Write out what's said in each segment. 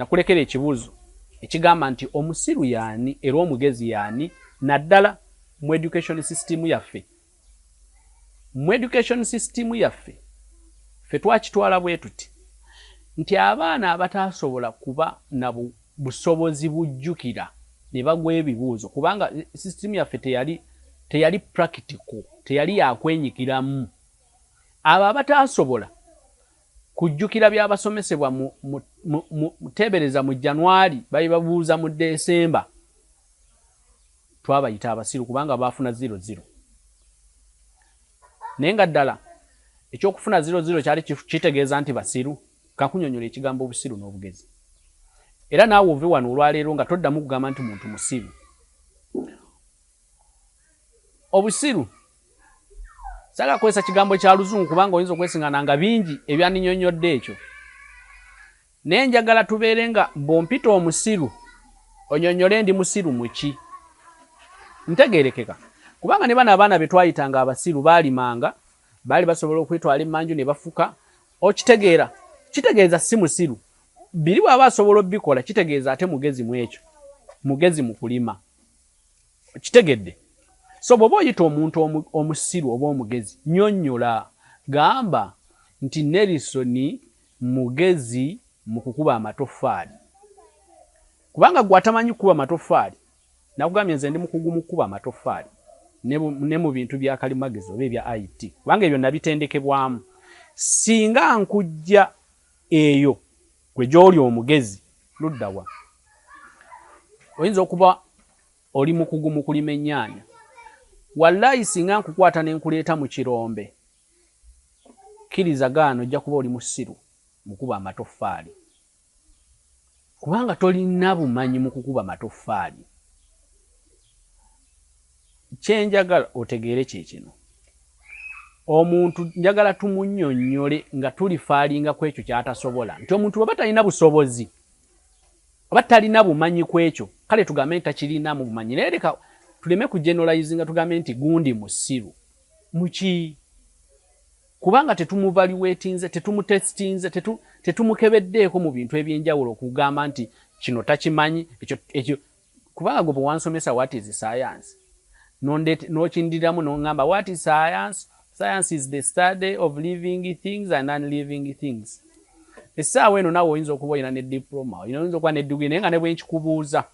Nakulekera ekibuuzo ekigamba nti omusiru yaani era omugezi yaani naddala mu education system yaffe? Mu education system yaffe ffe twakitwala bwetuti nti abaana abataasobola kuba na busobozi bujjukira ne bagwa ebibuuzo kubanga system yaffe teyali teyali practical teyali yakwenyigiramu abo abataasobola Kujjukira bya basomesebwa mu, mu, mu, mu, teebereza mu January, baibabuuza mu December. Twabayita abasiru kubanga baafuna ziro ziro. Naye nga ddala eky'okufuna ziro ziro kyali kitegeeza nti basiru? Kakunyonyola ekigambo obusiru n'obugezi. Era naawe ove wano olwaleero nga toddamu kugamba nti muntu musiru. obusiru saga kwesa kigambo kya luzungu kubanga oyinza okwesingana nga bingi ebyaninyonyodde ekyo naye njagala tubeere nga bwompita omusiru onyonyole ndi musiru muki ntegerekeka kubanga ne bana abaana betwayita nga abasiru baalimanga baali basobola okwetwala emanju ne bafuka okitegeera kitegeeza si musiru biri bwaba asobola obikola kitegeeza ate mugezi mu ekyo mugezi mu kulima Okitegedde? So bw'oba oyita omuntu omusiru oba omugezi, nnyonnyola. Gamba nti, Nelson mugezi mu kukuba amatoffaali. Kubanga ggwe atamanyi kukuba matoffaali, nakugambye nze ndi mukugu mu kukuba amatoffaali ne mu bintu bya kalimagezi oba ebya IT, kubanga ebyo nabitendekebwamu. Singa nkujja Eyo gwe gy'oli omugezi ludda wa? Oyinza okuba oli mukugu mu kulima ennyaanya. Wallaahi singa nkukwata ne nkuleeta mu kirombe, kkiriza gaana ojja kuba oli musiru mu kuba amatoffaali. Kubanga tolina bumanyi mu kukuba matoffaali. Kye njagala otegeere kye kino, omuntu njagala tumunnyonnyole nga tulifaalinga ku ekyo ky'atasobola. Nti omuntu bw'aba talina busobozi oba talina bumanyi ku ekyo, kale tugambe nti takirinamu bumanyi. Naye leka tuleme kujenolayizinga tugambe nti gundi musiru. Mu ki? Kubanga tetumuvaluwetinze, tetumutesitinze, tetu, tetumukebeddeeko mu bintu eby'enjawulo okugamba nti kino takimanyi, ekyo, ekyo. Kubanga gwe bwewansomesa what is science, n'okindiramu n'ongamba what is science, science is the study of living things and unliving things. Essaawa eno nawe oyinza okuba olina ne diploma, oyinza okuba ne degree, naye nga ne bwenkikubuuza,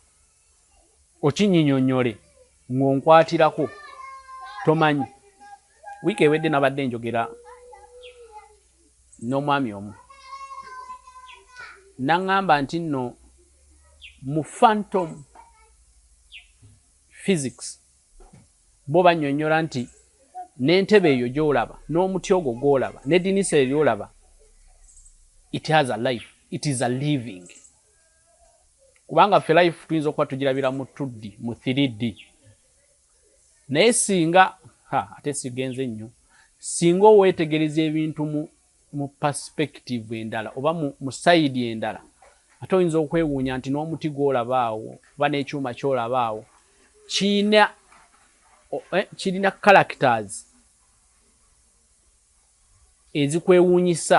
Okinyinyonyole ng'onkwatirako. Tomanyi, wiiki ewedde nabadde njogera n'omwami omu n'aŋŋamba nti nno mu phantom physics bo bannyonnyola nti n'entebe eyo gy'olaba n'omuti ogwo gw'olaba n'eddinisa eryo ly'olaba it has a life, it is a living. kubanga ffe life tuyinza okuba tugirabira mu tuddi mu 3d naye singa ha ate sigenze nnyo singa oweetegereza ebintu mu mu perspective endala oba mu sayidi endala ate oyinza okwewuunya nti n'omuti gwolabaawo oba n'ekyuma kyolabaawo kirina eh, kirina characters ezikwewuunyisa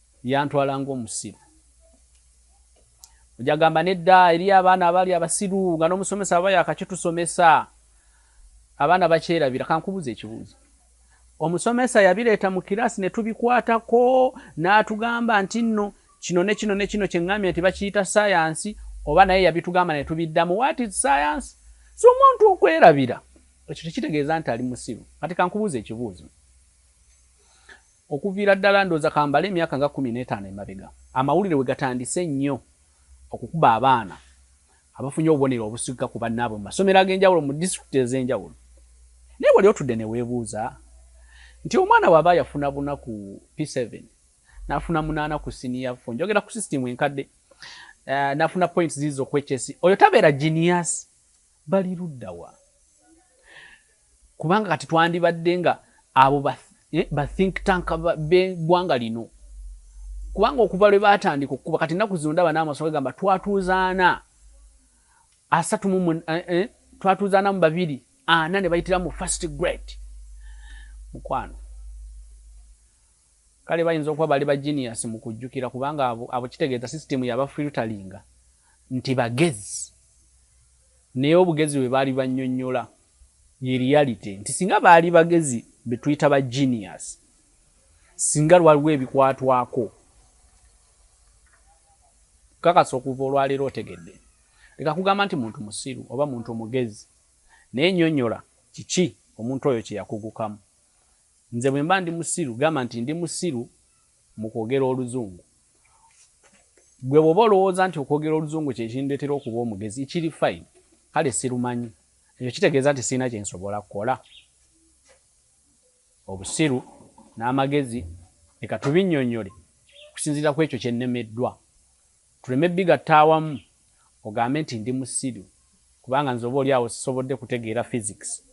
Yantwala ng'omusiru. Ojja gamba nedda eriyo abaana abali abasiru nga n'omusomesa aba yakakitusomesa. Abaana bakyerabira. Kankubuze ekibuuzo. Omusomesa yabireeta mu kiraasi ne tubikwatako n'atugamba nti nno kino ne kino ne kino kye ngambye nti bakiyita ssayansi oba naye yabitugamba ne tubiddamu what is science? Si omuntu okwerabira. Ekyo tekitegeeza nti ali musiru. Kati kankubuuze ekibuuzo. Okuviira ddala ndowooza ka mbale emyaka nga kkumi n'etaano emabega, amawulire we gatandise ennyo okukuba abaana abafunye obubonero obusukika ku bannaabwe mu masomero ag'enjawulo mu disitulikiti ez'enjawulo. Naye wali otudde ne weebuuza nti omwana bw'aba yafuna buna ku P-seven, n'afuna munaana ku siniya fo, njogera ku sisitiimu enkadde, n'afuna points ziizo ku HSE, oyo tabeera genius? Bali ludda wa? Kubanga kati twandibadde nga abo ba, eh, ba think tank b'eggwanga lino. Kubanga okuva lwe baatandika okukuba, kati ennaku zino ndaba n'amaso gagamba twatuuza ana asatu mu eh, eh, twatuuza ana mu babiri ana ne bayitira mu first grade. Mukwano. Kale bayinza okuba bali ba genius mu kujjukira kubanga abo abo kitegeeza system yaba filteringa nti bagezi naye obugezi bwe baali bannyonnyola ye reality nti singa baali bagezi be tuyita ba genius singa lwaliwo ebikwatwako kakasa okuva olwaleero otegedde leka kugamba nti muntu musiru oba muntu mugezi naye nyonyola kiki omuntu oyo kyeyakugukamu Nze bwemba ndi musiru gamba nti ndi musiru mukwogera oluzungu. Gwe bwoba olowooza nti okwogera oluzungu kyekindetera okuba omugezi ekiri fine kale sirumanyi ekyo kitegeeza nti sirina kyensobola kukola? Obusiru n'amagezi leka tubinyonyole okusinziira ku ekyo kyennemeddwa tuleme bigatta awamu ogambe nti ndi musiru kubanga nze oba oli awo sisobodde kutegeera physics.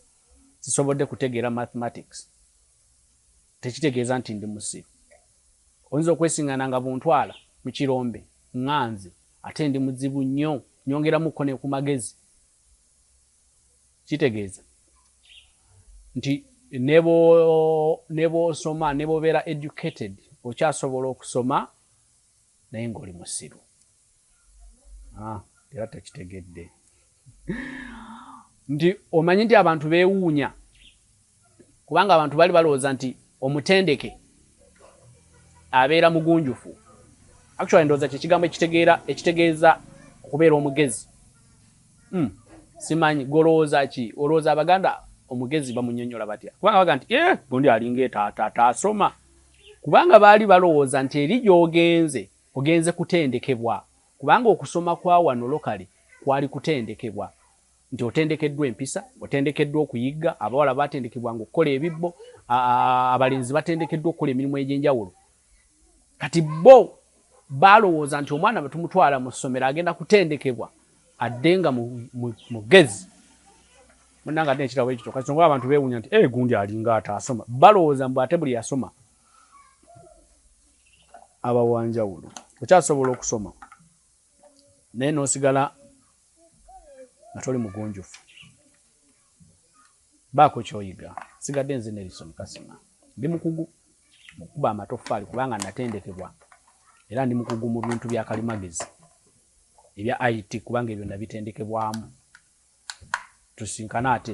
sisobodde kutegeera mathematics tekitegeeza nti ndi musiru oyinza okwesingana nga buntwala mu kirombe nganze ate ndi muzibu nnyo nyongeramuko ne ku magezi kitegeeza nti nebwosoma nebwobeera educated okyasobola okusoma Naye nga oli musiru ah, era tokitegedde nti omanyi nti abantu bewuunya kubanga abantu bali balowooza nti omutendeke abeera mugunjufu actually ndowooza kyekigambo ekitegeera ekitegeeza okubeera omugezi mm. simanyi golowooza ki olowooza abaganda omugezi bamunyonyola batya kubanga baga nti e eh, gundi alinga etaata ataasoma kubanga baali balowooza nti eri gy'ogenze ogenze kutendekebwa kubanga okusoma kwa wano lokale kwali kutendekebwa nti otendekeddwa empisa, otendekeddwa okuyigga, abawala baatendekebwanga okukola ebibbo, abalenzi batendekeddwa okukola emirimu egy'enjawulo. Kati bo baalowooza nti omwana bwe tumutwala mu ssomero agenda kutendekebwa adde nga mugezi. Munange ate ekirabo ekyo kyoka songa abantu bewunya nti eh gundi alinga atasoma balowooza mbu ate buli yasoma abawanjawulo okyasobola okusoma naye nosigala nga toli mugunjufu baako kyoyiga sigadde nze nelison kasima ndi mukugu mu kukuba amatoffaali kubanga natendekebwa era ndi mukugu mu bintu bya kalimagezi ebya it kubanga ebyo nabitendekebwamu tusinkane ate